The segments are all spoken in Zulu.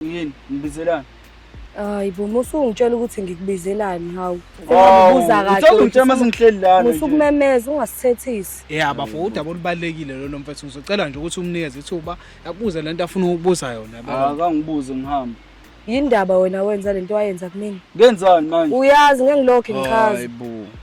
yini ngibizelani hayi bo musungitshela ukuthi ngikubizelani hawu ubuza kahle usungitshela uma singihleli lana usukumemeza ungasithethisi yeah bafo udaba olubalekile lolo mfethu ngizocela nje ukuthi umnikeze ithuba akubuze lento afuna ukubuza yona akangibuze ngihamba yindaba wena wenza lento wayenza kumina ngenzani manje uyazi ngengilokho ngichaza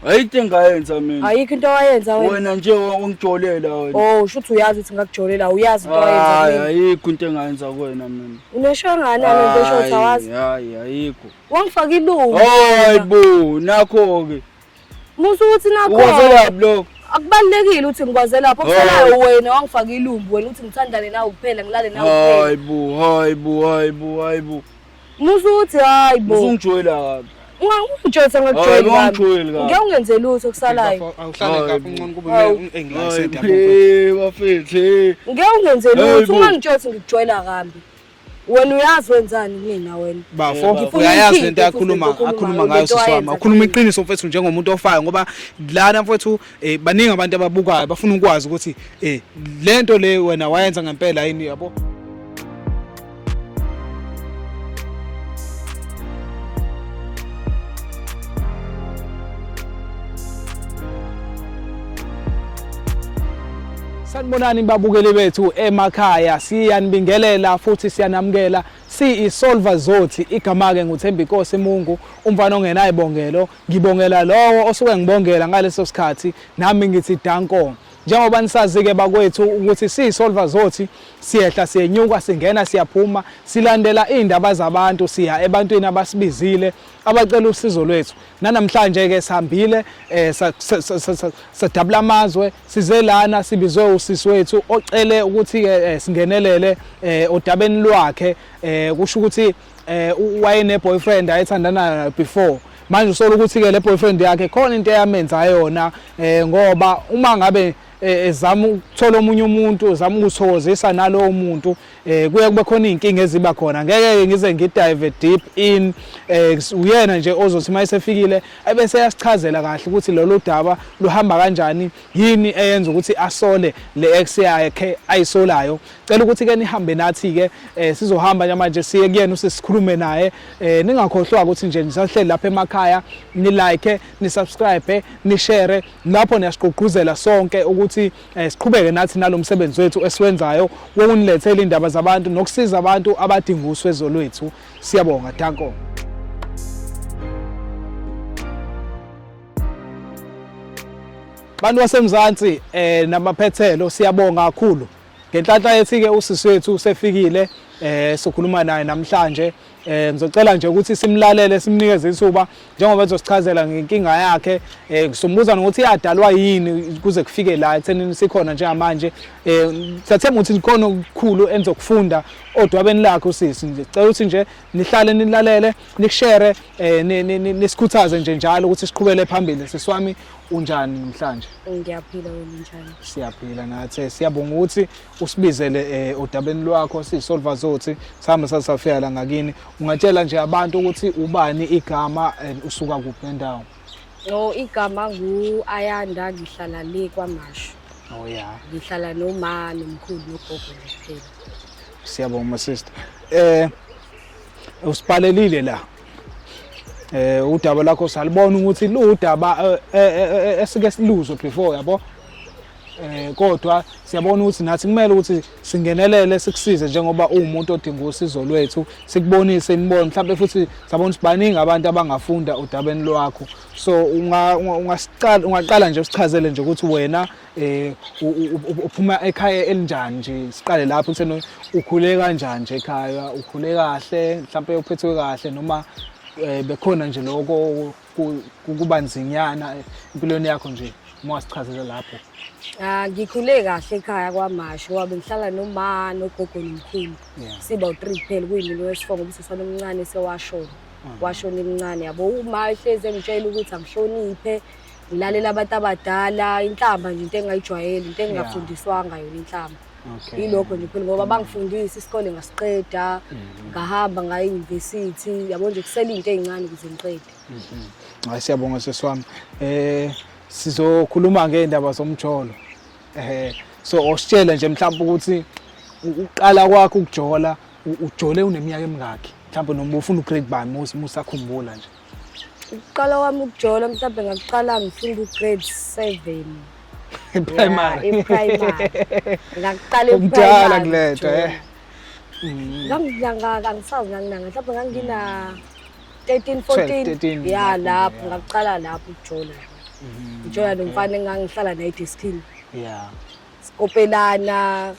ayikho engayenza mina ayikho into owayenza wena wena nje ongijolela wena oh shuthi uyazi ukuthi ngakujolela uyazi into owayenza hayi mina ayikho into engayenza kuwena mina unesho ngani nto esho ukuthi awazi Hayi, hayi ayikho wangifaka ilungu hayi bo nakho ke musa ukuthi nakho ukwazelaphi lokho akubalulekile ukuthi ngikwazelaphi okusalayo wena wangifaka ilumbu wena ukuthi ngithandane nawe kuphela ngilale nawe kuphela hayi bo hayi bo hayi bo hayi bo Musa ukuthi hayi bo. Usungijoyela kabi. Ungangijoyisa ngakujoyela. Ungangijoyeli kabi. Ngeke ungenze lutho kusalayo. Awuhlale kabi uncono kuba engilesente yabo. Hey bafethe. Ngeke ungenze lutho ungangijoyisa ngikujoyela kambi. wena uyazi wenzani kumina wena bafo uyayazi lento akhuluma akhuluma ngayo siswami ukhuluma iqiniso mfethu njengomuntu ofayo ngoba lana mfethu Eh baningi abantu ababukayo bafuna ukwazi ukuthi eh lento le wena wayenza ngempela yini yabo. Sanibonani babukeli bethu emakhaya siyanibingelela futhi siyanamukela siyiSolver Zothi igama ke nguThembinkosi Mungu umfana ongenayibongelo Ngibongela lowo osuke ngibongela ngaleso sikhathi nami ngithi dankong. Njengoba nisazi-ke bakwethu ukuthi siyisolva zothi siyehla siyenyuka singena siyaphuma silandela iy'ndaba zabantu siya ebantwini abasibizile abacela usizo lwethu. Nanamhlanje-ke sihambile eh, sadabula amazwe size lana sibizwe usisi wethu ocele ukuthi-ke eh, singenelele eh, odabeni lwakhe kusho ukuthi eh wayene boyfriend ayethandana nayo before manje usola ukuthi ke le boyfriend yakhe khona into eyamenza yona eh ngoba uma ngabe eh, ezama ukuthola omunye umuntu ezama ukuthokozisa nalowo muntu eh kuye kube khona izinkinga eziba khona ngeke ngize ngidive deep in eh uyena nje ozothi uma esefikile ebese yasichazela kahle ukuthi lolu daba luhamba kanjani yini eyenza ukuthi asole le ex yakhe ayisolayo Cela ukuthi ke nihambe nathi ke eh, sizohamba namanje siye kuyena usisikhulume naye eh, ningakhohlwa ukuthi nje nisahleli lapha emakhaya ni like ni subscribe ni share lapho niyasiqoquzela sonke ukuthi eh, siqhubeke nathi nalomsebenzi wethu esiwenzayo wokunilethela indaba zabantu nokusiza abantu abadinga uswezo lwethu siyabonga danko bantu basemzansi eh namaphethelo siyabonga kakhulu Ngenhlanhla ethi-ke usisi wethu usefikile eh sokhuluma naye namhlanje eh ngizocela nje ukuthi simlalele simnikeze ithuba njengoba ezosichazela ngenkinga yakhe eh sombuza nokuthi yadalwa yini kuze kufike la ekuthenini sikhona njengamanje eh siyathemba ukuthi likhona okukhulu enizokufunda odwabeni lakhe usisi nje cela ukuthi nje nihlale nilalele nikushare eh nisikhuthaze nje njalo ukuthi siqhubele phambili siswami Unjani namhlanje? Ngiyaphila wena unjani? Siyaphila nathi. Siyabonga ukuthi usibizele eh, odabeni lwakho sisolva zothi sihambe sasafika la ngakini. Ungatshela nje abantu ukuthi ubani igama and usuka kuphi nendawo. No igama ngu Ayanda ngihlala le kwaMashu. Oh yeah. Ngihlala noma nomkhulu nogogo nje. Siyabonga sister. Eh usipalelile la eh udaba lakho salibona ukuthi ludaba eh, eh, eh, esike siluzwe before yabo eh kodwa siyabona ukuthi nathi kumele ukuthi singenelele sikusize njengoba uwumuntu odinga usizo lwethu sikubonise imibono mhlawumbe futhi sabona ukuthi baningi abantu abangafunda udabeni lwakho so ungaqala nje usichazele nje ukuthi wena eh uphuma ekhaya elinjani nje siqale lapho kuthena ukhule kanjani nje ekhaya ukhule kahle mhlawumbe uphethwe kahle noma eh, bekhona nje lokho kuba nzinyana empilweni yakho nje uma wasichazela lapho Ah ngikhule kahle ekhaya kwaMashu wabe ngihlala noma nogogo nomkhulu. Siba u3 kuphela kuyimini wesifo ngoba usesana omncane sewashona. Ah. Washona emncane yabo uma ehleze ngitshela ukuthi angihloniphe ngilalela abantu abadala inhlamba nje into engingayijwayeli into engingafundiswanga yona inhlamba Okay. yilokho nje phela ngoba bangifundisa isikole ngasiqeda Mhm. ngahamba ngaya eyunivesithi yabo nje kusele iy'nto ey'ncane ukuze ngiqede Hayi siyabonga sisi wami. Eh sizokhuluma ngeindaba zomjolo. Eh so ositshela nje mhlawumbe ukuthi u- uqala kwakho ukujola u- ujole uneminyaka emingaki? Mhlawumbe noma ufuna ugrade bani musa musakhumbula nje. Ukuqala kwami ukujola mhlawumbe ngakuqala ngifunda ugrade seven. Primary. Yeah, primary. Ngakuqala ukudala kulento eh. Mm. Ngangidlanga kangisazi nganginanga mhlawumbe ngangina 13 14 yeah lapho ngakuqala lapho ukujola. Mm-hmm. Ngijola nomfana engangihlala naye Deskin. Yeah. Sikopelana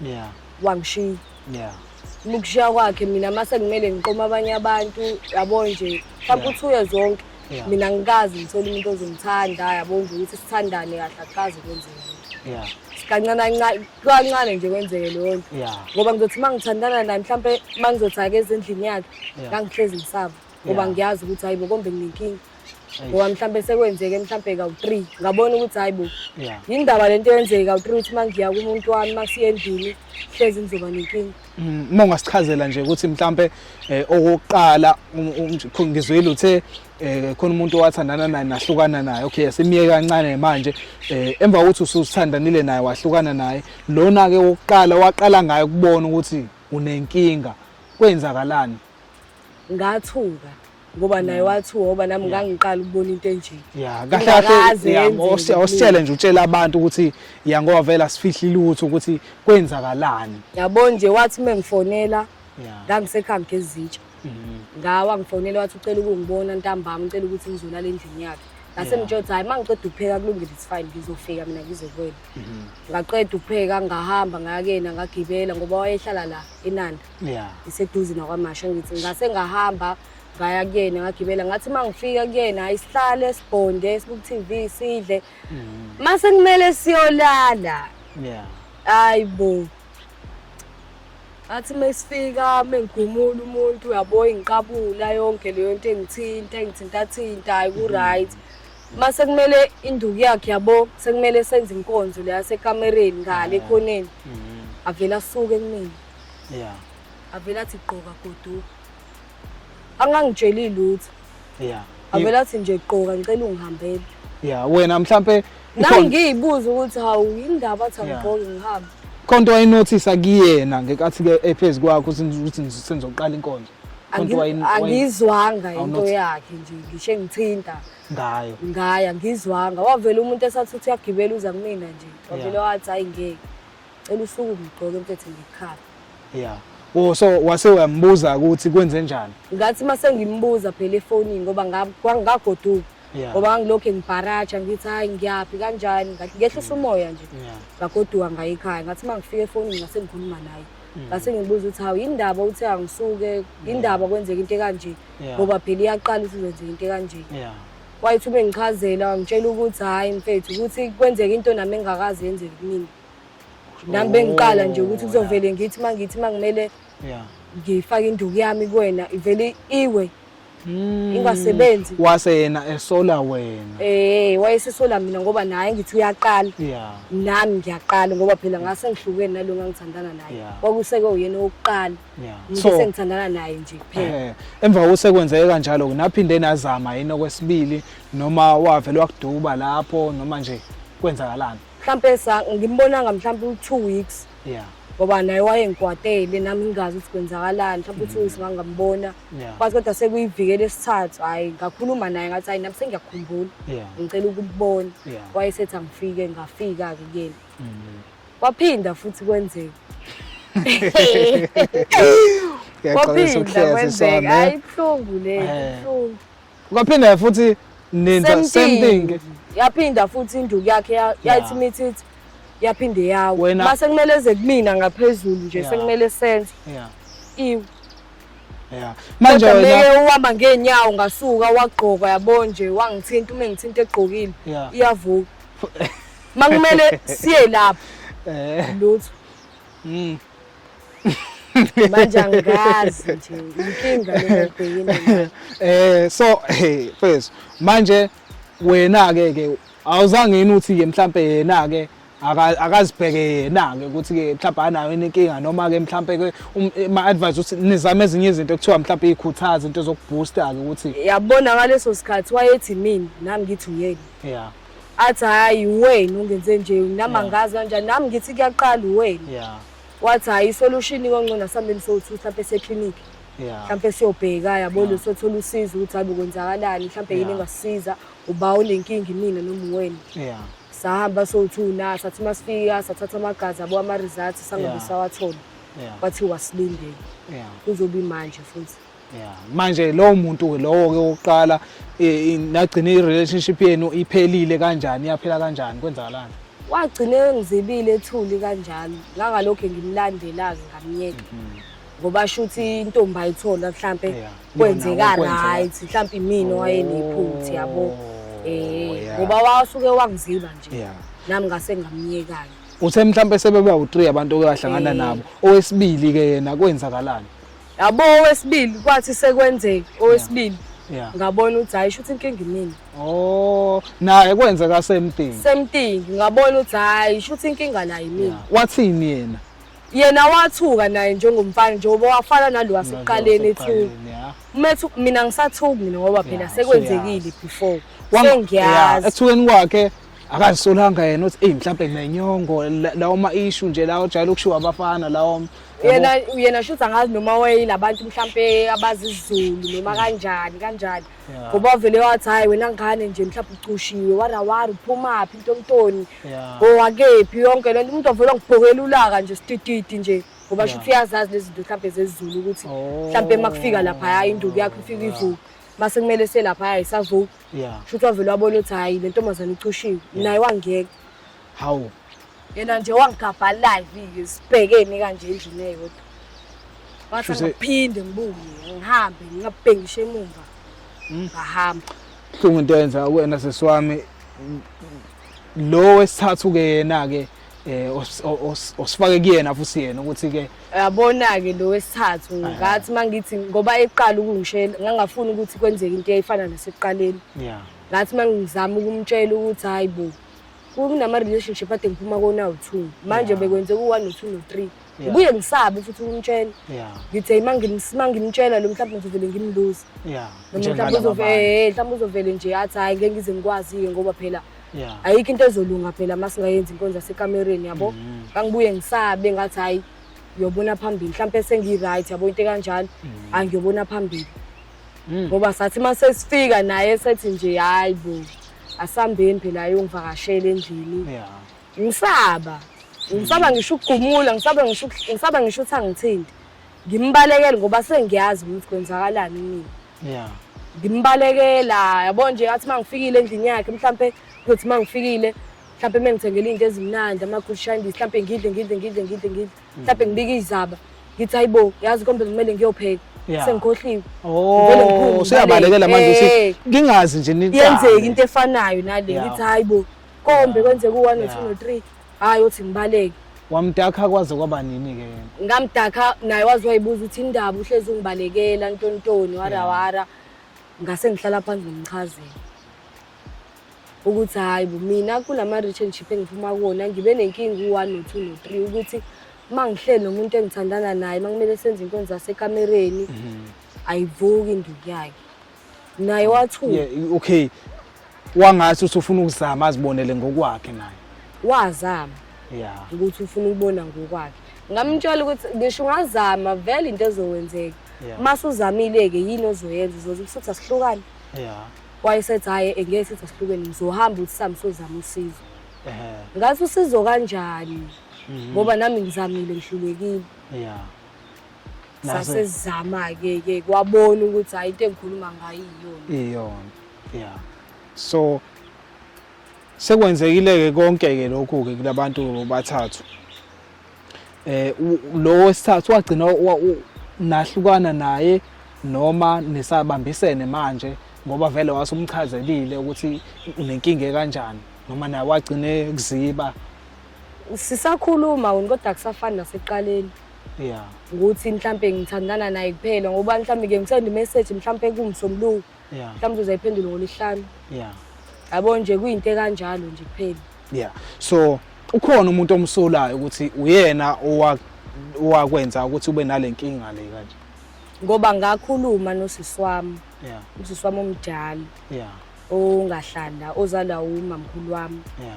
yeah wangishiya yeah ukushiya kwakhe mina mase kumele ngiqoma abanye abantu yabo nje mhlawumbe uthi uye zonke mina ngikazi ngithola umuntu ozongithanda yabo nje ukuthi sithandane kahle akukazi kwenzeka yeah kancane kancane nje kwenzeke leyo nto ngoba ngizothi uma ngithandana naye mhlawumbe uma ngizothi ake ezindlini yakhe ngangihlezi ngisaba ngoba ngiyazi ukuthi hayibo kombe nginenkinga ngoba mhlawumbe sekwenzeke mhlawumbe kawu-three ngabona ukuthi hhayi bo yindaba le nto eyenzeke kawu-three ukuthi uma ngiya kumuntu wami uma siye endlini hlezi ngizoba nenkinga uma mm, ungasichazela nje ukuthi mhlawumbe um eh, okokuqala um, um, um, ngizwile uthe um khona umuntu owathandana naye nahlukana naye okay simiye kancane manje um emva kokuthi ususithandanile naye wahlukana naye lona-ke wokuqala waqala ngayo ukubona ukuthi unenkinga kwenzakalani ngathuka ngoba naye wathi woba nami ngangiqala ukubona into enje ya kahle kahle ya ositshele nje utshela abantu ukuthi ya ngoba vela sifihle lutho ukuthi kwenzakalani yabo nje wathi mengifonela ngangisekhaya ngezitsha mhm. ngawa ngifonela wathi ucela ukungibona ntambama ucela ukuthi ngizolala endlini yakhe ngase ngitshothi hayi mangiqeda ukupheka kulungile it's fine ngizofika mina ngizokwela mhm. ngaqeda ukupheka ngahamba ngayakena ngagibela ngoba wayehlala la enanda yeah. iseduze nakwamasha ngithi ngase ngahamba ngaya kuyena ngagibela ngathi uma ngifika kuyena isihlale sibhonde sibuku TV sidle mm. mase kumele siyolala yeah hayi bo athi mesifika mengigumula umuntu uyabo ingiqabula yonke leyo nto engithinta engithinta thinta ayi ku right mm -hmm. uma sekumele induku yakhe yabo sekumele senze inkonzo leya sekamereni ngale ekhoneni mm-hmm. avele asuke kumina yeah avele athi gqoka goduka angangitsheli lutho yeah avele athi nje gqoka ngicela ungihambele yeah wena mhlambe nami ngiyibuza ukuthi hawu indaba athi angigqoke ngihambe konto wayinothisa kuyena ngekathi ke ephezi kwakho ukuthi sengizoqala inkonzo angizwanga into yakhe nje ngisho engithinta ngayo ngayo angizwanga wavela umuntu esathi uthi uyagibela uza kumina nje wavele wathi hayi ngeke cela usuku ngigqoke mfethu ngikhala yeah Oh so wase uyambuza ukuthi kwenze njani? Ngathi mase ngimbuza phela efonini ngoba ngagoduka. Ngoba ngilokho ngibharaja ngithi hayi ngiyaphi kanjani ngathi ngehlisa umoya nje. Ngagoduka ngayikhaya ngathi mangifika efonini ngase ngikhuluma naye. Mm. Ngase ngibuza ukuthi hawu indaba uthi angisuke indaba kwenzeka into kanje ngoba phela iyaqala ukuthi kwenzeka into kanje. Wayithume ngichazela ngitshela ukuthi hayi mfethu ukuthi kwenzeka into nami engakazi yenzeke kimi. nami bengiqala nje ukuthi oh, kuzovele ngithi uma ngithi uma ngimele ngifake induku yami kuwena ivele iwe hmm. ingasebenzi wase yena esola wena eh wayesesola mina ngoba naye ngithi uyaqala nami ngiyaqala ngoba phela ngase ngihlukene nalo ngangithandana naye kwakuseke uyena owokuqala ngithi sengithandana naye nje kuphela eh, emva kokusekwenzeke kanjalo naphinde nazama yini okwesibili noma wavele wakuduba lapho noma nje kwenzakalani mhlawumpe ngimbonanga mhlawumpe u-two weeks yeah ngoba naye wayengikwatele nami ngingazi ukuthi kwenzakalani mhlawumpe u-two weeks ngangambona kwazi kodwa sekuyivikele esithathu hhayi ngakhuluma naye ngathi hhayi nami sengiyakhumbula ngicela ukubona wayesethi angifike ngafika-ke kuyena mm-hmm. kwaphinda futhi kwenzeka kwaphinda kwenzeka hhayi ibuhlungu le ibuhlungu Kwaphinda futhi ninza Same same thing. thing. yaphinda futhi induku yakhe ya- yayithi mithithi yaphinde yawo Wena- mase kumele eze kumina ngaphezulu nje Yeah. sekumele senze Yeah. iwe Yeah. Manje kodwa wena meke uhamba ngeenyawo ngasuka wagqoka yabo nje wangithinta uma engithinta egqokile Yeah. iyavuka makumele siye lapho eh lutho mm. manje angazi nje inkinga lengibhekile eh so hey first manje wena ke ke awuzange yini uthi ke mhlambe yena ke akazibheke yena-ke ukuthi-ke mhlawumbe anayo inkinga noma-ke mhlawumbe-ke um, eh, ma-advise ukuthi nizame ezinye izinto kuthiwa mhlawumbe iy'khuthaza into zokubhusta-ke ukuthi yabona ngaleso sikhathi wayethi mina nami ngithi uyena ya athi hhayi wena ungenze nje nami angazi kanjani nami ngithi kuyaqala uwena yeah wathi hhayi isolution kongcono asihambeni sowu-two mhlawumpe eseklinikhi yeah mhlawumpe siyobheka yabona sothola usizo ukuthi hhayi kwenzakalani mhlawumpe yini Yeah. engasisiza uba unenkinga imina noma uwena yeah sahamba sowu-two na sathi uma sifika sathatha amagazi abo ama-results sangabe Yeah. sawathola yeah kwathiwa silindele yeah kuzobe imanje futhi yeah. manje lowo muntu-ke lowo-ke wokuqala e, nagcine i-relationship yenu iphelile kanjani yaphela kanjani kwenzakalani wagcine engizibile ethuli kanjalo ngangalokhu ngimlandela-ke ngamyeka mhm. ngoba shuthi intombi ayithola mhlampe kwenzeka right mhlampe imina owayenephutha yabo oh, eh ngoba wasuke wangiziba nje nami ngase ngamyekanye uthe mhlampe sebeba u3 abantu oyahlangana eh. nabo owesibili ke yena kwenzakalani yabo owesibili kwathi sekwenzeka owesibili Yeah. ngabona ukuthi hayi shuthi inkinga imina Oh, naye kwenzeka same thing. same thing ngabona ukuthi hayi shuthi inkinga la yimina Wathini yena? yena wathuka naye njengomfana njengoba wafana nalo wasekuqaleni ethi Waseqaleni, yeah. umethu mina ngisathuki mina ngoba phela Yeah, sekwenzekile before Wang- yeah, sengiyazi Ekuthukeni kwakhe akazisolanga yena uthi eyi mhlawumbe nginenyongo lawo ma-ishu nje lawo ojwayele ukushiwa abafana lawo yena yena shuthi angazi noma wayelabantu mhlampe abazi isizulu noma kanjani kanjani ngoba wavele wathi hhayi wena ngane nje mhlawumbe ucushiwe warawari uphumaphi intontoni owakephi oh, yonke le nto umuntu wavele ngibhokela ulaka nje sitititi nje ngoba shuthi uyazazi lezi zinto mhlawumbe zezizulu ukuthi oh. mhlawumbe uma kufika laphaya induku yakho ifika ivuka uma sekumele selapha hhayi isavuka yeah shuthi wavele wabona ukuthi hayi le ntombazane icushiwe naye wangeka hawu yena nje wangigabha live sibhekeni kanje endlini eyodwa wathi ngiphinde ngibuye ngihambe ngingabhengishe emumva hmm? ngahamba buhlungu into yenza wena sesiwami lo wesithathu ke yena ke eh os- o- os- osifake kuyena futhi yena ukuthi ke yabona-ke lo wesithathu ngathi uma ngithi ngoba eqala ukungishela ngangafuni ukuthi kwenzeke into eyayifana nasekuqaleni yeah ngathi uma ngizama ukumtshela ukuthi hhayi bo kunama-relationship ade ngiphuma kona awu-two manje bekwenzeka u-one no-two no-three Yeah. Ngibuye ngisabe futhi ukumtshela. Yeah. Ngithe ima ngimsima ngimtshela lo mhlawumbe ngizovele ngimluze. Yeah. Lo mhlawumbe uzovele, eh, mhlawumbe uzovele nje athi hayi ngeke ngize ngikwazi ngoba phela Yeah. Ayikho into ezolunga phela masingayenzi inkonzo yasekamereni yabo. Mm. Kangibuye ngisabe ngathi hayi uyobona phambili mhlawumbe sengi-right yabo into ekanjalo mm. angiyobona phambili mm. ngoba sathi uma sesifika naye sethi nje hhayi bo asihambeni phela ayongivakashela endlini ngisaba ngisaba ngisho ukugumula ngisaba ngisho ngisaba ngisho ukuthi angithindi ngimbalekele ngoba sengiyazi ukuthi kwenzakalani mina yeah ngimbalekela yabo nje athi mangifikile endlini yakhe mhlambe kuthi mangifikile mhlambe mengithengele into ezimnandi ama good shandies mhlambe ngidle ngidle ngidle ngidle ngidle mm. mhlambe ngibike izaba ngithi hayibo yazi kombe kumele ngiyopheka sengikhohliwe oh useyabalekela manje usithi ngingazi nje nini yenzeka into efanayo nale ngithi hayibo kombe kwenzeka u-1 no-2 Yeah. no-3 hhayi othi ngibaleke wamdakha kwaze kwaba nini-ke yena ngamdakha naye waze wayibuza ukuthi indaba uhlezi ungibalekela ntontoni warawara ngase ngihlala phansi ngimchazela ukuthi hhayi bo mina kulama-relationship engiphuma kuwona ngibe nenkinga u-one no-two no-three ukuthi uma ngihleli nomuntu engithandana naye uma kumele senze inkonzo zasekamereni ayivuki induku yakhe naye wathuka yeah, okay wangathi usufuna ukuzama azibonele ngokwakhe naye wazama yeah ukuthi ufuna ukubona ngokwakhe ngamtshela ukuthi ngisho ungazama vele into ezowenzeka yeah. mase uzamile-ke yini ozoyenza uzoze usuthi asihlukane yeah wayesethi hhayi engeke sithi asihlukene ngizohamba ukuthi sami sozama usizo ngathi usizo kanjani mhm. ngoba nami ngizamile ngihlulekile yeah sasezama-ke ke kwabona ukuthi hayi into engikhuluma ngayo iyona iyona ya so sekwenzekile-ke konke-ke lokhu-ke kulabantu bathathu eh lo wesithathu wagcina nahlukana naye noma nisabambisene manje ngoba vele wasumchazelile ukuthi unenkinga kanjani noma naye wagcine kuziba sisakhuluma wena kodwa kusafani nasekuqaleni yeah ukuthi mhlampe ngithandana naye kuphela ngoba mhlampe ke ngisende message mhlampe kumsombuluko yeah mhlampe uzayiphendula ngolishana yeah yabo nje kuyinto kanjalo nje kuphela yeah so ukhona umuntu omsolayo ukuthi uyena owakwenza ukuthi ube nalenkinga le kanje ngoba ngakhuluma nosisi wami yeah usisi wami omdala yeah ongahlala ozalwa umamkhulu wami yeah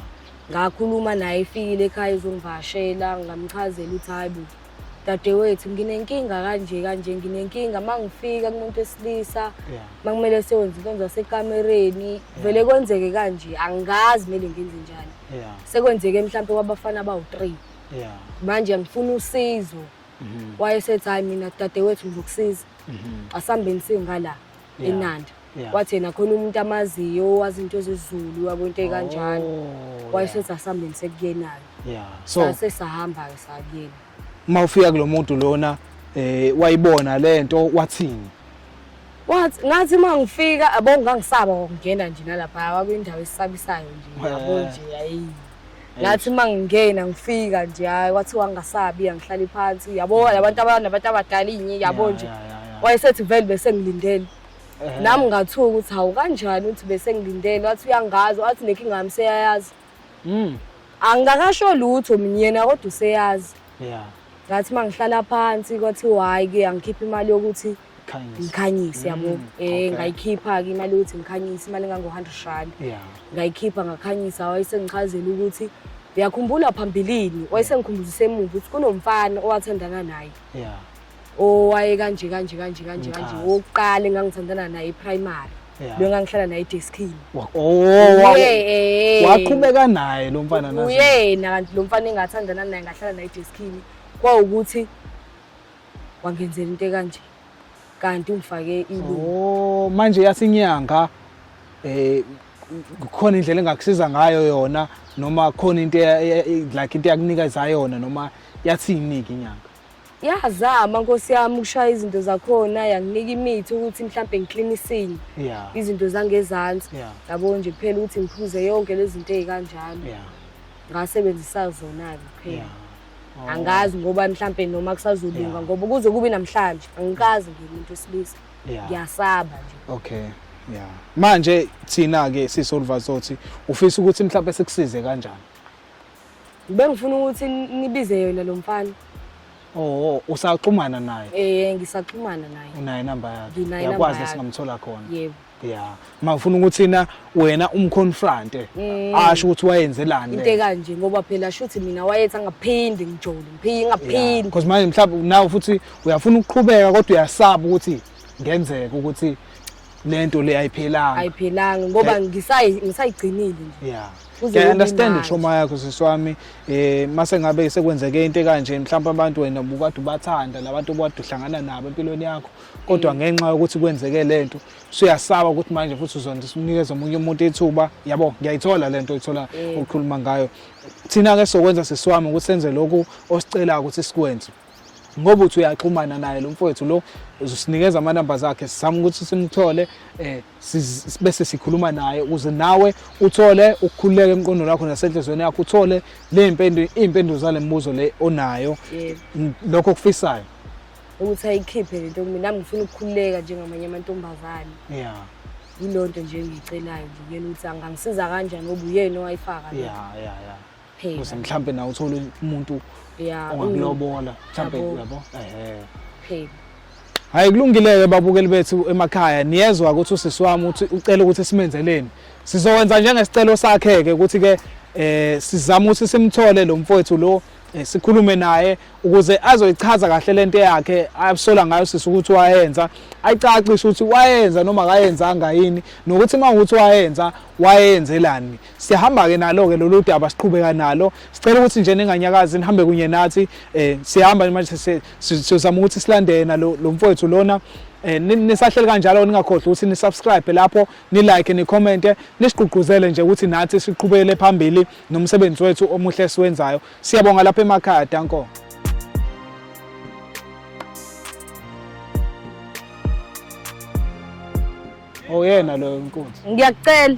ngakhuluma naye efikile ekhaya ezongivashela ngamchazela ukuthi hayi bo dadewethu nginenkinga kanje kanje nginenkinga uma ngifika kumuntu wesilisa uma kumele sewenze into zasekamereni vele kwenzeke kanje angazi kumele ngenze njani sekwenzeke mhlawumpe kwabafana abawu-three manje ngifuna usizo mhm. wayesethi hhayi mina dadewethu ngizokusiza mhm. asihambeni singala enanda Yeah. wathi yena khona umuntu amaziyo owazi into zezulu yabo into ekanjalo Oh, wayesethi asihambeni sekuyenayo yeah. So sase sahamba-ke sakuyena uma ufika kulo muntu lona eh wayibona lento wathini? wathi ngathi uma ngifika abo ngangisaba ngokungena nje nalapha wakwindawo esisabisayo nje yabo Eh. nje hayi ngathi uma ngingena ngifika nje hayi wathi wangasabi angihlali phansi yabo labantu abanabantu abadala inye yabo Yeah, nje yeah, yeah, yeah. wayesethi vele besengilindele nami ngathuka ukuthi hawu kanjani uthi bese ngilindele wathi uyangazi wathi nenkinga yami seyayazi mm. angikakasho lutho mina yena kodwa useyazi yeah. ngathi uma ngihlala phansi kwathi hhayi ke angikhiphe imali yokuthi ngikhanyise yabo um mm, eh, ngayikhipha-ke imali yokuthi ngikhanyise imali engango-hundred rand ngayikhipha ngakhanyisa wayesengichazela ukuthi uyakhumbula phambilini wayesengikhumbuza isemuva ukuthi kunomfana owathandana naye owaye kanje kanje kanje kanje kanje Nkazi. wokuqala engangithandana naye iprimary Yeah. lo engangihlala naye edeskini Wa- oh, wa- Uye- waqhubeka naye lo mfana nazo. uyena kanti lo mfana engathandana naye ngahlala naye edeskini kwawukuthi wangenzela into ekanje kanti ungifake ilu Oh, manje yasinyanga eh khona indlela engakusiza ngayo yona noma khona into eya- eya- like into yakunikeza yona noma yathini ke inyanga. yazama nkosi yami ukushaya izinto zakhona yanginika imithi ukuthi mhlawumbe ngiklinisile izinto zangezansi yabo nje kuphela ukuthi ngiphuze yonke lezi zinto ezikanjalo ngasebenzisa zona-ke kuphela oh. angazi ngoba mhlawumbe noma kusazolunga ngoba kuze kube namhlanje angikazi ngimuntu wesilisa ngiyasaba nje okay ya manje thina-ke sisolvazothi ufisa ukuthi mhlawumbe sikusize kanjani Bengifuna ukuthi nibize yona lo mfana. Oh, usaxhumana naye? Eh, ngisaxhumana naye. Unayo inamba yakhe? Nginayo inamba Yakwazi yakhe. singamthola khona. Yebo. Yeah. Uma ufuna ukuthi na wena umconfronte, Mm. asho ukuthi wayenzelani. Into ekanje ngoba phela shuthi mina wayethi angaphindi ngijole, ngiphi ngaphindi. Because manje mhlawumbe nawe futhi uyafuna ukuqhubeka kodwa uyasaba ukuthi ngenzeka ukuthi lento le ayiphelanga ayiphelanga ngoba ngisayigcinile nje yeah ngiya understand itrauma yakho siswami eh mase ngabe sekwenzeke into kanje mhlawumbe abantu wena ubukade ubathanda labantu obukade uhlangana nabo empilweni yakho kodwa mm. ngenxa yokuthi kwenzeke lento suyasaba ukuthi manje futhi uzonda unikeza omunye umuntu ithuba yabo ngiyayithola lento ithola mm. ukukhuluma ngayo thina ke sokwenza siswami ukuthi senze lokhu osicelayo ukuthi sikwenze ngoba uthi uyaxhumana naye lo mfowethu lo usinikeza amanamba zakhe sizama ukuthi simthole eh bese sikhuluma naye ukuze nawe uthole ukukhululeka emqondweni wakho nasenhlizweni yakho uthole le mpendu impendulo zale mibuzo le onayo lokho kufisayo ukuthi ayikhiphe lento mina nami ngifuna ukukhululeka njengamanye amantombazane yeah yilonto nje engiyicelayo nje kuyena ukuthi angangisiza kanjani ngoba uyena owayifaka yeah yeah yeah kuphela ukuze mhlawumbe nawe uthole umuntu ongakulobola mhlawumbe yabo ehe phela hayi kulungile-ke babukeli bethu emakhaya niyezwa ukuthi usisi wami uthi ucela ukuthi simenzeleni sizokwenza njengesicelo sakhe-ke ukuthi-ke eh sizama ukuthi simthole lo mfowethu lo eh, sikhulume naye ukuze azoyichaza kahle lento yakhe asola ngayo sisi ukuthi wayenza ayicacishe ukuthi wayenza noma akayenzanga yini nokuthi uma ukuthi wayenza wayenzelani siyahamba-ke nalo-ke lolu daba siqhubeka nalo sicela ukuthi nje ninganyakazi nihambe kunye nathi um siyahamba manje sizama ukuthi silande yena lo mfowethu lona Eh, nisahleli kanjalo ningakhohlwa ukuthi nisubscribe lapho nilike nicommente nisigqugquzele nje ukuthi nathi siqhubekele phambili nomsebenzi wethu omuhle esiwenzayo siyabonga lapha emakhaya danko oyena oh, loyo nkunzi ngiyakucela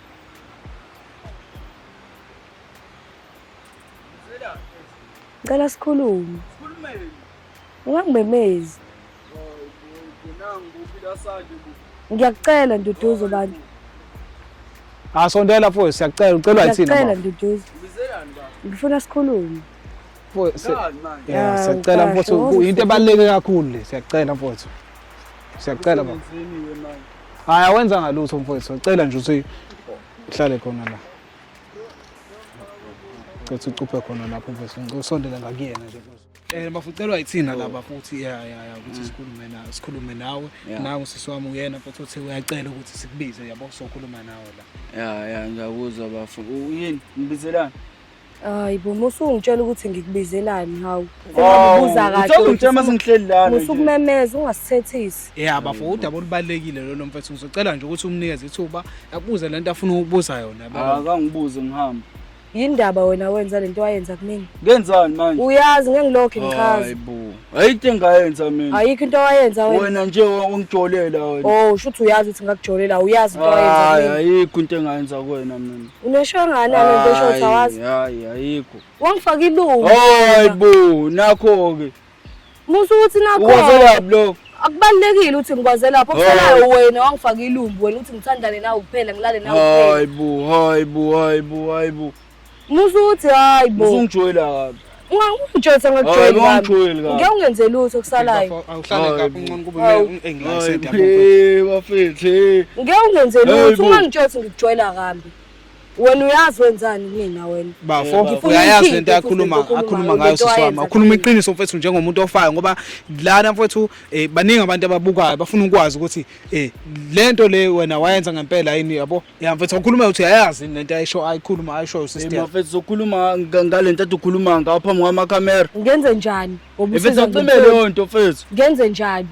Ngicela sikhulume. Sikhulumeni. Ungangimemezi. Ngiyakucela Nduduzo bantu. Asondela ah, mfowethu siyakucela ucelwa yithina. Ngiyakucela Nduduzo. Ngifuna sikhulume. Mfowethu, yeah, siyacela mfowethu, into ebaluleke kakhulu le, siyacela mfowethu. Siyacela baba. Hayi awenza ngalutho mfowethu, sicela nje ukuthi uhlale khona la. Cela ucuphe khona lapho mfowethu, ngicela usondele ngakuyena nje mfowethu. Eh bafucelwa yithina laba futhi ya ya ya ukuthi sikhulume nawe, sikhulume nawe. Nawe sisi wami uyena futhi uthi uyacela ukuthi sikubize yabo sokhuluma nawe la. Ya ya ngiyakuzwa bafo. Uyini? Ngibizelani? Hayi bo musungitshela ukuthi ngikubizelani hawu. Sengabuza kahle. Uthanda ngitshela mase ngihleli lana. Musukumemeza ungasithethisi. Yeah bafo udaba olubalekile lolo mfethu ngizocela nje ukuthi umnikeze ithuba akubuze lento afuna ukubuza yona baba. Ah, Akangibuze ngihamba. Yindaba wena wenza lento wayenza kumina. Ngenzani manje? Uyazi ngengilokho ngichaza. Hayi bo. ayikho engayenza mina ayikho into owayenza wena wena nje ungijolela wena oh usho ukuthi uyazi ukuthi ngakujolela uyazi into owayenza hayi mina ayikho into engayenza kuwena mina uneshangana lento esho ukuthi awazi hayi hayi ayikho wangifaka ilungu hayi bo nakho ke musa ukuthi nakho uwazelaphi lokho akubalulekile ukuthi ngikwaze lapho kuselayo wena wangifaka ilumbu wena ukuthi ngithandane nawe kuphela ngilale nawe kuphela hayi bo hayi bo hayi bo hayi bo Musa ukuthi hayi bo. Usungijoyela kabi. Ungangijolisa ngakujoyela. Ungangijolisa kabi. Ngeke ungenze lutho kusalayo. Awuhlale kabi uncono kuba engiyisenda kubo. Hey bafethe. Ngeke ungenze lutho ungangijolisa ngikujoyela kambi. wena uyazi wenzani kumina wena bafo uyayazi lento yakhuluma akhuluma ngayo siswama ukhuluma iqiniso mfethu njengomuntu ofayo ngoba lana mfethu eh, baningi abantu ababukayo bafuna ukwazi ukuthi eh, lento le wena wayenza ngempela yini yabo ya mfethu ukhuluma ukuthi ayayazi yini lento ayisho ayikhuluma ayishoyo sister Hey, mfethu sokhuluma nga- ngale nto adukhuluma ngawo phambi kwamakhamera ngenze njani ngoba mfethu usiza acime ngempela. leyo nto mfethu ngenze njani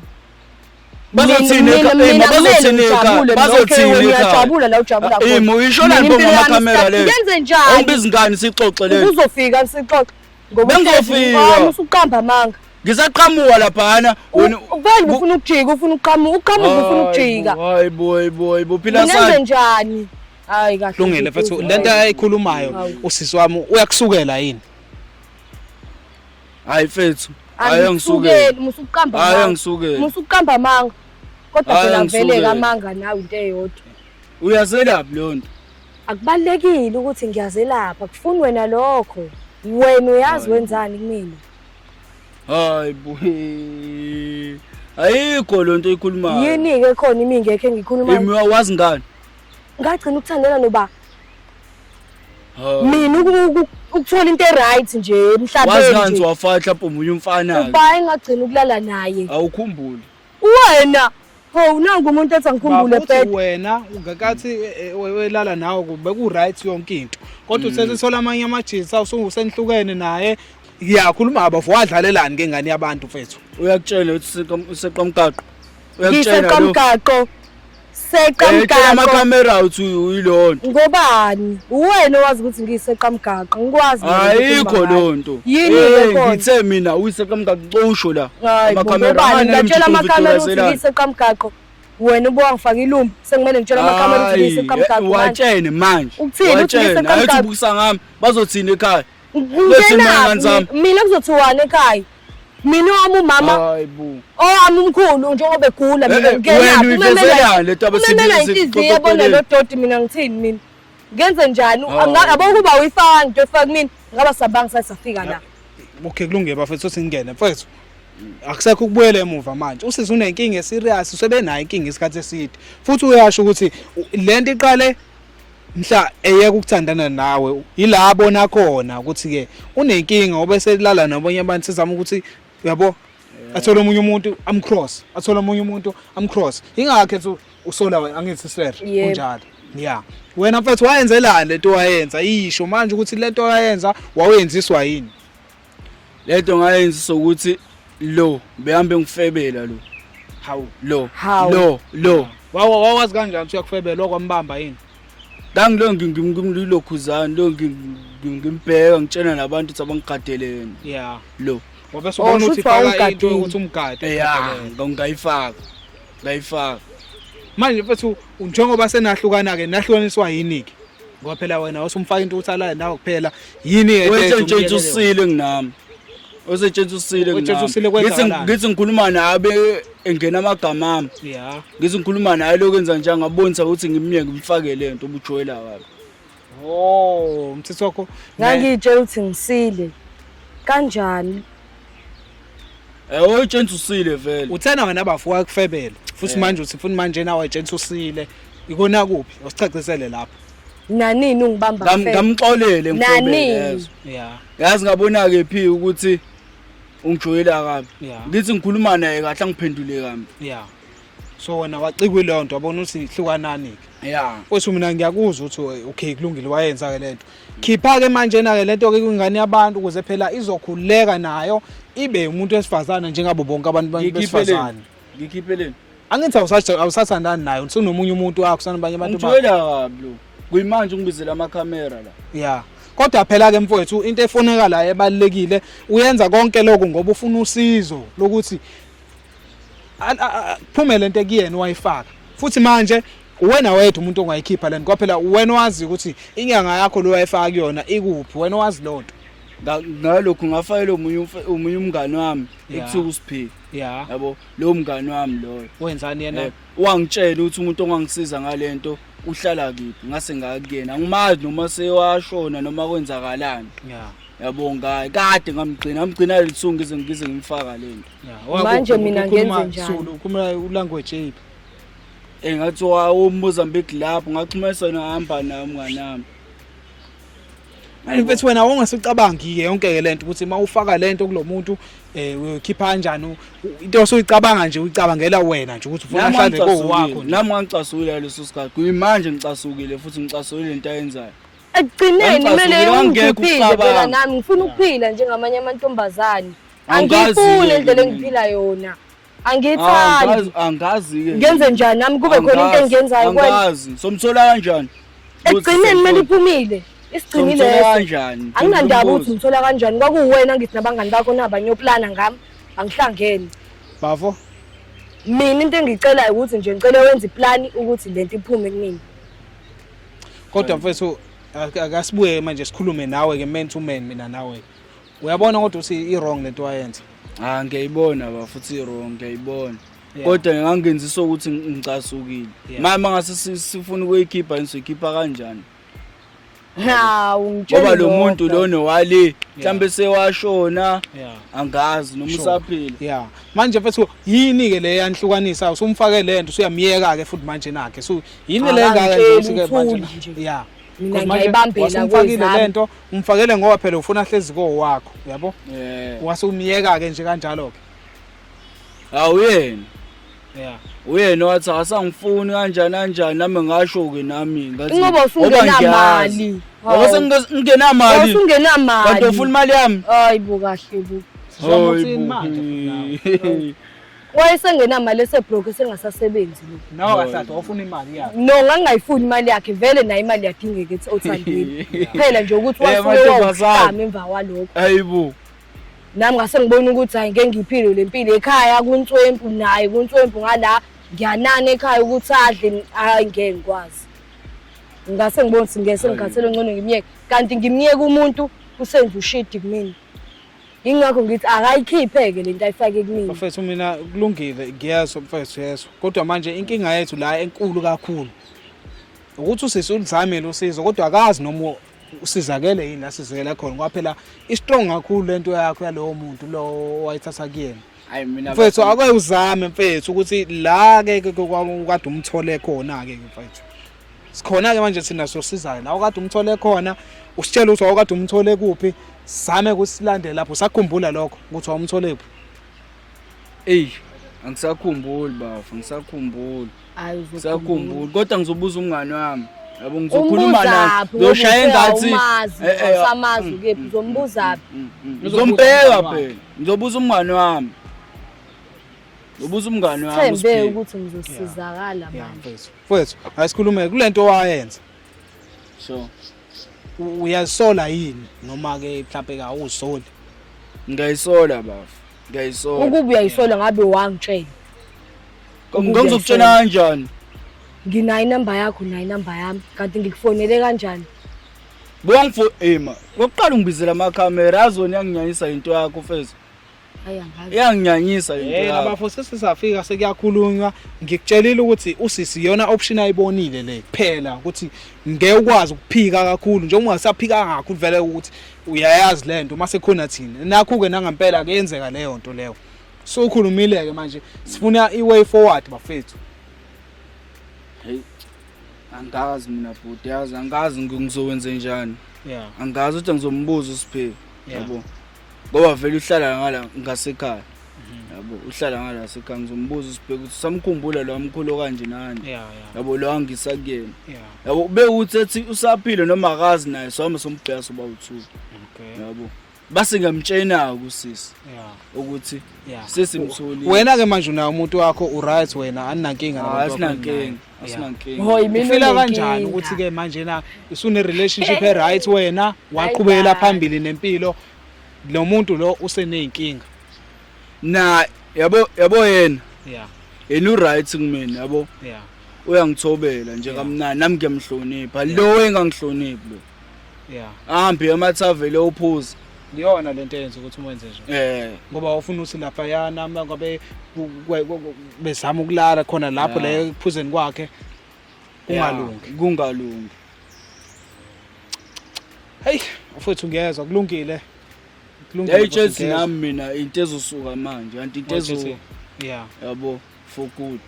Bazothini Mina- ekha- mina- eh, mina bazothini kumele ekha- ngijabule, bazothini nokho ekha- uyajabula la ujabula Ah, khona. eh, mo, uyishona Mina nje impilo yami, kwamakhamera sister, le. ngenze njani? Awubizi ngani sixoxe le Uzofika sixoxe Bengofika. Usuqamba amanga. Ngisaqhamuka laphana. Wena uvele ufuna ukujika, ufuna uqhamuka, uqhamuka ufuna ukujika. Hayi boy boy, bophila sana. Ngenze njani? Hayi kahle. Lungile mfethu, lento ayikhulumayo usisi wami uyakusukela yini? Hayi mfethu. Hayi angisukeli, musuqamba amanga. Hayi angisukeli. Musuqamba amanga. Kodwa phela vele kamanga nawe into eyodwa. Uyazelaphi leyo nto? Akubalulekile ukuthi ngiyazelapha, kufuni wena lokho. Wena uyazi wenzani kumina? Hayi buhe. Ayikho lonto ikhulumayo. Yini ke khona imi ngekhe ngikhuluma. Imi wazi ngani? Ngagcina ukuthandela noba. Mina ukuthola into eright nje emhlabeni. Wazi ngani wafahla mpomunye umfana. Uba engagcina ukulala naye. Awukhumbuli. Wena Hawu nangu umuntu ethi angikhumbule Babuthi bed. wena ungakathi eh, eh, we- welala nawe ku- beku-right yonke into kodwa usesesola amanye amajinsi usenihlukene naye ngiyakhuluma bafo wadlalelani ke ngane yabantu mfethu uyakutshela ukuthi useqomgaqo Ngiseqomgaqo. seqa Eh, cela mgaqo amacamera uthi uyilona ngobani uwena owazi ukuthi ngiyiseqa mgaqo ngikwazi mina ukuthi ayikho ngimangaki. loo nto yini Eh, ke khona ngithe mina uyiseqamgaqo cosho la Hayi bo, Amacamera, ngobani amanye ngatshela emjikeni amakamera ukuthi uthulaselani. ngiyiseqa mgaqo wena ubuka ngifake ilumbi sekumele ngitshela amakamera ukuthi Hayi, ngiyiseqa mgaqo manje. watshene manje Ukuthini? Uthi Watshene. ngiyiseqa Ayithi mgaqo? ubukisa ngami bazothini ekhaya ngenaphi mina kuzothiwani ekhaya mina owami umama owami umkhulu njengoba egula mina eh, ngenaphi umemela inhliziyo yabona lo doti mina ngithini mina ngenze njani yabo ukuba uyifaka into efaka kumina ngaba sabanga sathi safika la okay kulungile bafethu singene mfethu akusekho ukubuyela emuva manje usisi unenkinga eserious usebenayo inkinga isikhathi eside futhi uyasho ukuthi lento iqale mhla eyeka ukuthandana nawe yila abona khona ukuthi ke unenkinga obe selala nabanye abantu sizama ukuthi yabo athole omunye umuntu amcross athole omunye umuntu amcross ingakhe ethi usola wena angithi sir kunjalo yeah wena mfethu wayenzelani lento wayenza isho manje ukuthi lento wayenza wawenziswa yini lento ngayenzisa ukuthi lo behambe ngifebela lo hawu lo Hawu. lo lo Wawa wawazi kanjani ukuthi uyakufebela okwambamba yini? ngangilo ngimlokhuzani lo ngi- ngi- ngimbheka ngitshena nabantu ukuthi abangigadeleni Yeah. lo Ngoba Oh, sibona shuthi ukuthi faka into wawumgadile. ukuthi umgade. Eh, ya, ngayifaka layifaka manje mfethu njengoba senahlukana ke nahlukaniswa yini ke ngoba phela wena wasumfaka into ukuthi alale nawe kuphela yini ke wetshentshentshwa usile nginami wetshentshentshwa usile nginami ngithi ngikhuluma nabe engena amagama ami ngithi ngikhuluma naye lokho enza njani ngabonisa ukuthi ngimnye ngimfake lento ubujwela wakhe Oh, mthetho wakho. Ngangiyitshela ukuthi ngisile. Kanjani? Eh, oyitshela usile vele. Uthena wena bafo wakufebela. Futhi eh. manje uthi funa manje nawe ayitshela usile. Ikona kuphi? Usicacisele lapha. Nanini ungibamba mfethu. Ngamxolele ngifebele. Yeah. Yazi ngabona ke phi ukuthi ungijoyela kabi. Ngithi ngikhuluma naye kahle angiphendule kambi. Yeah. so wena wacikwa ileyo nto wabona ukuthi hlukanani-ke ya kwethu mina ngiyakuzwa ukuthi eh, okay kulungile wayenza-ke le nto khipha-ke manjena-ke le nto-ke kwingane yabantu ukuze phela izokhululeka nayo ibe umuntu wesifazane njengabo bonke abantu besifazane ngikhiphele angithi awusathandani nayo usunomunye umuntu wakho sanabanye abantu ngithulela kabi lo kuyimanje ungibizela amakhamera la ya kodwa phela ke mfowethu into efoneka la ebalekile uyenza konke lokho ngoba ufuna usizo lokuthi kuphume lento ekuyena wayifaka futhi manje uwena wedwa umuntu ongayikhipha lento kwaphela uwena wazi ukuthi inyanga yakho lo wayifaka kuyona ikuphi wena wazi lonto ngalokho ngafayela omunye omunye umngani wami ekuthiwa uSiphile yeah yabo lo mngani wami loyo wenzani yena eh, wangitshela ukuthi umuntu ongangisiza ngalento uhlala kiphi ngase ngakuyena angimazi noma sewashona noma kwenzakalani yeah yabo ngaye kade ngamgcina ngamgcina lisungu ize ngize ngimfaka lento manje mina ngenze njani ukhuluma ulanguage yiphi eh ngathi wawumozambique lapho ngaxhumesa yena hamba nami nganami Mfethu wena wongasecabangi ke yonke ke lento ukuthi uma ufaka lento kulomuntu eh uyokhipha kanjani into osuyicabanga nje uyicabangela wena nje ukuthi ufuna ahlale kowakho nami ngangicasukile leso sikhathi kuyimanje ngicasukile futhi ngicasukile into ayenzayo ekugcineni kumele ungiphize phela nami ngifuna ukuphila njengamanye amantombazane angiyifuni indlela engiphila yona angiyithandi angazi-ke ngenze njani nami kube khona into engiyenzayo angazi somthola kanjani ekugcineni kumele iphumile isigcinile kanjani anginandaba ukuthi ngithola kanjani kwakuwena ngithi nabangani bakho nabanye yoplana ngami angihlangene bafo mina into engicelayo ukuthi nje ngicela wenze iplani ukuthi le nto iphume kumina kodwa mfethu akasibuye manje sikhulume nawe ke man to man mina nawe uyabona kodwa ukuthi i-wrong lento wayenza ha ah, ngiyayibona ba futhi i-wrong ngiyayibona kodwa ngingangenzisa ukuthi ngicasukile manje mangase sifuna ukuyikhipha ngizoyikhipha kanjani hawu ngitshela ngoba lo muntu lona wale mhlambe sewashona angazi noma usaphila yeah manje mfethu yini ke le yanhlukanisa usumfake lento usuyamyeka ke futhi manje nakhe so yini le ngaka nje manje yeah mina ngiyibambela kwezami umfakele ngoba phela ufuna ahlezi ko wakho yabo yeah. wase umyeka ke nje kanjalo ke awuyena yeah uyena wathi asangifuni kanjani kanjani nami ngasho ke nami ngathi ngoba usungenamali ngoba sengingenamali usungenamali kanti ufuna imali yami hayi bo kahle bo Hayi bo. wayesengenamali esebroke esengasasebenzi lo nawe kahlahla wafuna imali yakhe no ngangingayifuni imali yakhe vele nayo imali yadingeka ethi othandweni phela nje ukuthi wasuke wawuhlama emva kwalokho ayibo nami ngase ngibona ukuthi hayi ngeke ngiphile le mpilo ekhaya kuntswempu naye kuntswempu ngala ngiyanana ekhaya ukuthi adle hayi ngeke ngikwazi ngase ngibona ukuthi ngeke sengikhathele ngcono ngimyeke kanti ngimyeke umuntu usenza ushidi kumina Ingakho ngithi akayikhiphe-ke le nto ayifake kumina. Mfethu mina kulungile ngiyezwa mfethu yezwa. Kodwa manje inkinga yethu la enkulu kakhulu. Ukuthi usisi ulizamile usizo kodwa akazi noma usizakele yini la sizekela khona ngoba phela istrong kakhulu lento yakho yalowo muntu lo wayithatha kuyena. Hayi mina mfethu ake uzame mfethu ukuthi la ke kade umthole khona ke mfethu. sikhona ke manje thina sosizayo la okade umthole khona usitshela ukuthi awukade umthole kuphi same kusilandela lapho sakhumbula lokho ukuthi awumthole kuphi ey angisakhumbuli bafo ngisakhumbuli ngisakhumbuli kodwa ngizobuza umngane wami yabo ngizokhuluma naye ngizoshaya engathi eh, eh, usamazi mm, ukephi mm, uzombuzaphi mm, ngizombheka phela ngizobuza umngane wami ngizobuza umngane wami sithembe ukuthi ngizosizakala manje Mfowethu, asikhulume kulento owayenza. Sure. U- Uyazisola yini noma ke mhlawumbe ka awuzisoli? Ngiyayisola bafo. Ngiyayisola. Ukuba uyayisola ngabe wangitshela. Ngangizokutshela kanjani? Nginayo inamba yakho nayo inamba yami kanti ngikufonele kanjani? Bongfo ema. Ngokuqala ungibizela ama camera azoni yanginyanyisa into yakho mfethu. iyanginyanyisa eh, labafo sesisafika sekuyakhulunywa ngikutshelile ukuthi usisi iyona option ayibonile le kuphela ukuthi ngeke ukwazi ukuphika kakhulu njengoba ungasaphika kakhulu vele ukuthi uyayazi le nto uma sekhona thina nakho-ke nangempela kuyenzeka leyo nto leyo so ukhulumile-ke manje sifuna i-way forward bafethu hey angazi mina bhuti yazi angazi ngizokwenze njani yeah angazi ukuthi ngizombuza usipheki yabo yeah. ngoba vele uhlala ngala ngasekhaya yabo uhlala ngala sekhaya ngizombuza usibheke ukuthi samkhumbula lo mkhulu kanje nani Yeah, yeah. yabo lo angisa kuyena Yeah. yabo ube uthi ethi usaphile noma akazi naye sohamba sombheka soba uthu Okay. yabo base ngiyamtshena-ke usisi Yeah. ukuthi Yeah. sesimtholile wena ke manje unayo umuntu wakho uright wena aninankinga Ah, nabantu bakho asinankinga. ninaye. asinankinga Hho, yimina ufila kanjani onenkinga. ukuthi ke manje na usune relationship e right wena waqhubekela Hayi, phambili nempilo lo muntu lo useneyinkinga na yabo yabo yena yeah yena uright kumina yabo yeah uyangithobela nje kamnandi nami ngiyamhlonipha lo engangihloniphi lo yeah ahambe emathavele ophuza iyona lento eyenza ukuthi umenze nje eh ngoba ufuna uthi lapha yana uma ngabe bezama ukulala khona lapho la ekuphuzeni kwakhe kungalungi kungalungi hey mfowethu ngiyezwa kulungile kulungile hey Chelsea nami mina into ezosuka manje anti into ezo yeah yabo for good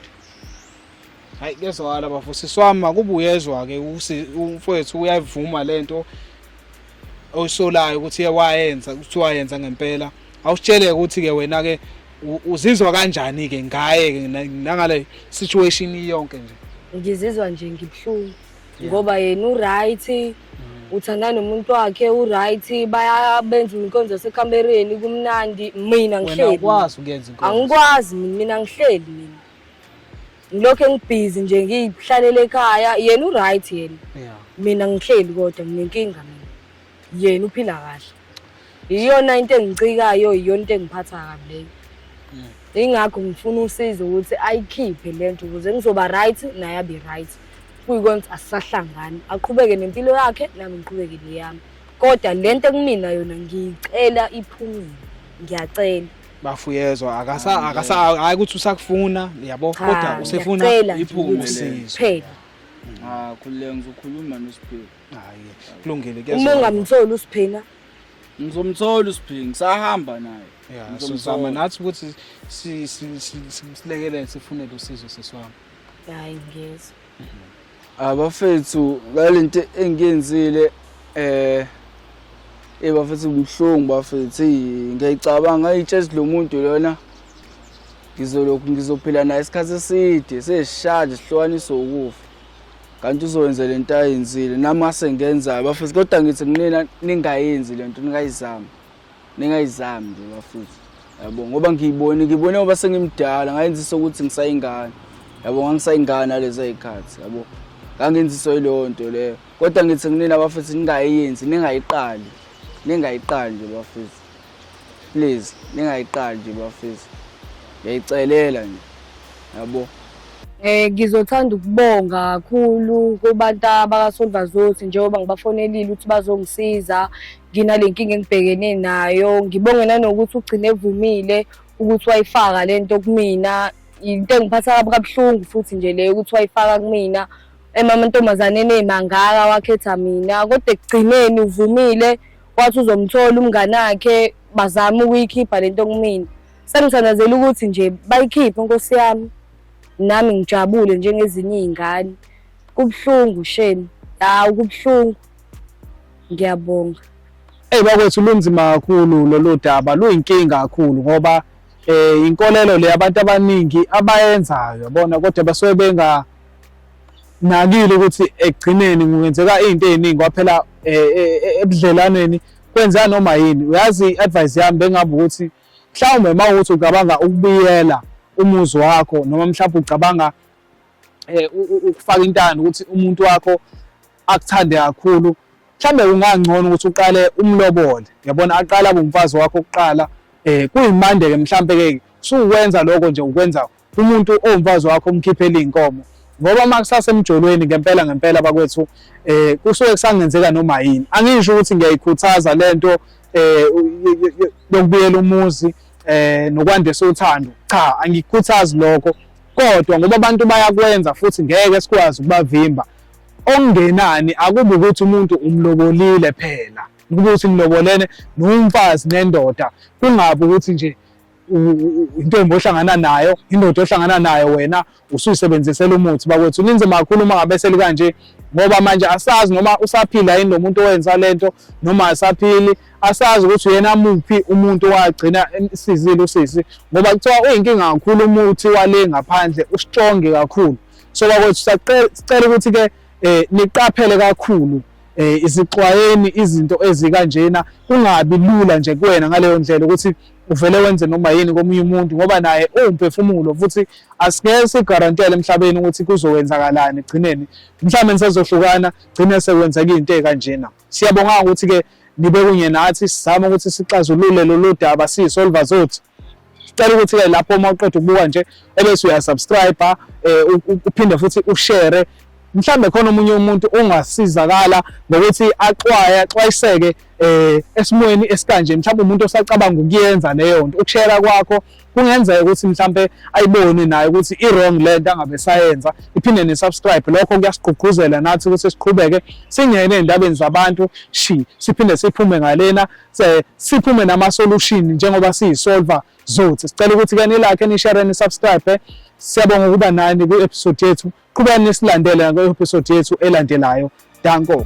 hayi kuyezwakala bafo sisi wami makuba uyezwa-ke umfowethu uyayivuma le nto oyisolayo ukuthi wayenza ukuthi wayenza ngempela awusitshele-ke ukuthi-ke wena-ke uzizwa kanjani-ke ngaye-ke nangale situation iyonke nje ngizizwa nje ngibuhlungu ngoba yena uright mm. uthanda nomuntu wakhe uright bayabenza inkonzo yasekhambereni kumnandi mina ngihleli angikwazi mina ngihleli mina ngilokhu engibhizi nje ngihlalele ekhaya yena uright yena yeah mina ngihleli kodwa nginenkinga mina yena uphila kahle iyona into engicikayo iyona into engiphatha kabi leyo mm. ingakho ngifuna usizo ukuthi ayikhiphe le nto ukuze ngizoba right naye abe right kuyikonza asisahlangani aqhubeke nempilo yakhe nami ngiqhubeke neyami kodwa le nto ekumina yona ngiyicela iphumile ngiyacela bafuyezwa akasa akasa hayi ukuthi usakufuna yabo kodwa usefuna iphume usizo phela ah khulile ngizokhuluma nosiphila hayi kulungile kuyazwa uma ungamtholi usiphila ngizomthola usiphila ngisahamba naye yeah sizama nathi ukuthi silekelele sifunele usizo seswami hayi ngiyezwa mhm. abafethu ngalento engiyenzile eh eh bafethu kubuhlungu bafethu ngiyayicabanga ayitshezi lo muntu lona ngizolokhu ngizophila naye isikhathi eside sesishade sihlukaniso ukufa kanti uzowenza le nto ayenzile nami asengenzayo bafethu kodwa ngithi kunina ningayenzi le nto ningayizami ningayizami nje bafuthu yabo ngoba ngiyibone ngibone ngoba sengimdala ngayenzisa ukuthi ngisayingane yabo ngangisayingane nalezo y'khathi yabo ngangenziswa yileyo nto leyo kodwa ngithi kunina bafethu ningayenzi ningayiqali ningayiqali nje bafethu please ningayiqali nje bafethu ngiyayicelela nje yabo Eh ngizothanda ukubonga kakhulu kubantu abakaSolvazothi njengoba ngibafonelile ukuthi bazongisiza nginale nkinga engibhekene nayo ngibonge nanokuthi ugcine evumile ukuthi wayifaka le nto kumina yinto engiphatha kabi kabuhlungu futhi nje leyo ukuthi wayifaka kumina emamantombazaneni ey'mangaka wakhetha mina kodwa ekugcineni uvumile wathi uzomthola umngane wakhe bazame ukuyikhipha le nto kumina sengithandazela ukuthi nje bayikhiphe nkosi yami nami ngijabule njengezinye iy'ngane kubuhlungu shame hawu kubuhlungu ngiyabonga eyi bakwethu lunzima kakhulu lolu daba luyinkinga kakhulu ngoba um inkolelo le abantu abaningi abayenzayo bona kodwa basuke benganakile ukuthi ekugcineni kungenzeka iy'nto ey'ningi kwaphela um ebudlelwaneni kwenzeka noma yini uyazi i-advice yami bengabe ukuthi mhlawumbe uma ukuthi ucabanga ukubiyela umuzi wakho noma mhlawumbe ucabanga um ukufaka intando ukuthi umuntu wakho akuthande kakhulu mhlambe ungangcono ukuthi uqale umlobole yabona aqala kumfazi wakho kuqala eh kuyimande ke mhlambe ke suwenza lokho nje ukwenza umuntu owumfazi wakho umkhiphele inkomo ngoba uma kusase emjolweni ngempela ngempela bakwethu eh kusuke kusangenzeka noma yini angisho ukuthi ngiyayikhuthaza lento eh yokubuyela umuzi eh nokwandisa uthando cha angikhuthazi lokho kodwa ngoba abantu bayakwenza futhi ngeke sikwazi ukubavimba Okungenani akubi ukuthi umuntu umlobolile phela, kuba ukuthi nilobolene nomfazi nendoda, kungabi ukuthi nje intombi ohlangana nayo indoda ohlangana nayo wena usuyisebenzisela umuthi bakwethu linzima kakhulu uma ngabe selikanje ngoba manje asazi noma usaphila yini lo muntu owenza le nto noma asaphili asazi ukuthi uyena muphi umuntu wagcina emsizile usisi ngoba kuthiwa uyinkinga kakhulu umuthi wale ngaphandle ustrong kakhulu so bakwethu sicela ukuthi ke eh niqaphele kakhulu eh izixwayeni izinto ezikanjena kungabi lula nje kuwena ngaleyo ndlela ukuthi uvele wenze noma yini komunye umuntu ngoba naye uwumphefumulo futhi asingeke sigarantele emhlabeni ukuthi kuzowenzakalani egcineni mhlawumbe nisezohlukana gcine sekwenzeka into ekanjena siyabonga ukuthi ke nibe kunye nathi sizama ukuthi sixazulule lolu daba siyisolva zothu Sicela ukuthi-ke lapho uma uqeda ukubuka nje ebese uyasubscribe eh, uphinde futhi ushare mhlambe khona omunye umuntu ongasizakala ngokuthi axwaye axwayiseke eh esimweni esikanje mhlawumbe umuntu osacabanga ukuyenza leyo nto ukushera kwakho kungenzeka ukuthi mhlambe ayibone naye ukuthi i wrong lento angabe sayenza iphinde ne subscribe lokho kuyasigqugquzela nathi ukuthi siqhubeke singene endabeni zabantu shi siphinde siphume ngalena se siphume nama solution njengoba siyisolver zothi sicela ukuthi ke nilike nishare ni subscribe siyabonga ukuba nani kwi episode yethu qhubani nisilandele kwi episode yethu elandelayo danko